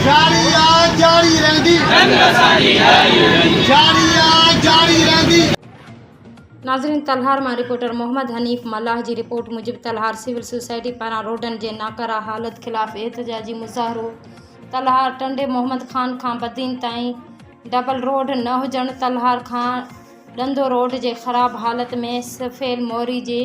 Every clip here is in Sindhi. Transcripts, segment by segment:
جاري آ جاري رهندي جنگ اسانجي جاري رهندي جاري آ جاري رهندي. ناظرين تلهار مان رپورٽر محمد حنيف ملاح جي رپورٽ موجب تلهار سول سوسائٽي پاران روڊن جي ناڪاره حالت خلاف احتجاجي مظاهرو تلهار ٽنڊي محمد خان کان بدين تائين ڊبل روڊ نه هجڻ تلهار کان ڏندو روڊ جي خراب حالت ۾ سفيل موري جي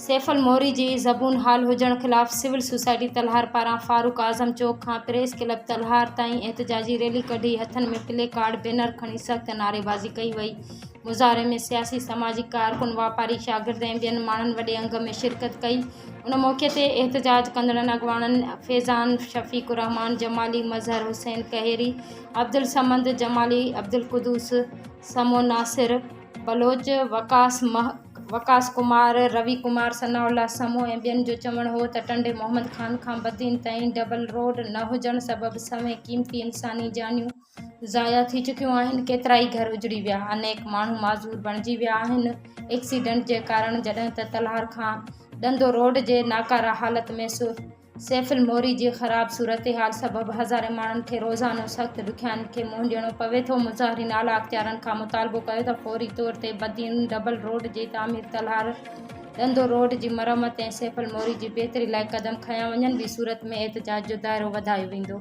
سيف الموري جي زبون حال هجڻ خلاف سول سوسائٽي تلهار پاران فاروق اعظم چوڪ کان پريس ڪلب تلهار تائين احتجاجي ريلي ڪڍي هٿن ۾ پلي ڪارڊ بينر کڻي سخت نعريبازي ڪئي وئي مظاهري ۾ سياسي سماجي ڪارڪن واپاري شاگرد ۽ ٻين ماڻهن وڏي انگ ۾ شرڪت ڪئي ان موقعي تي احتجاج ڪندڙن اڳواڻن فيضان شفيق الرحمان جمالي مظهر حسين ڪهيري عبدالصمد جمالي عبدالقدوس سمو ناصر بلوچ وقاص وقاص ڪمار، روي ڪمار، ثناء الله سمون ۽ ٻين جو چوڻ هو ته ٽنڊي محمد خان کان بدين تائين ڊبل روڊ نه هجڻ سبب سوين قيمتي انساني جانيون ضايع ٿي چڪيون آهن، ڪيترائي گهر اجڙي ويا، انيڪ ماڻهو معذور بڻجي ويا آهن، ايڪسيڊنٽ جي ڪارڻ جڏهن ته تلهار کان ڏندو روڊ جي ناڪاره حالت ۾ سيف الموري جي خراب صورتحال سبب هزارين ماڻهن کي روزانو سخت ڏکيائين کي منهن ڏيڻو پوي ٿو، مظاهرين اعليٰ اختيارن کان مطالبو ڪيو ته فوري طور تي بدين ڊبل روڊ جي تعمير، تلهار ڏندو روڊ جي مرمت ۽ سيف الموري جي بهتري لاء قدم کنيا وڃن، ٻي صورت ۾ احتجاج جو دائرو وڌايو ويندو.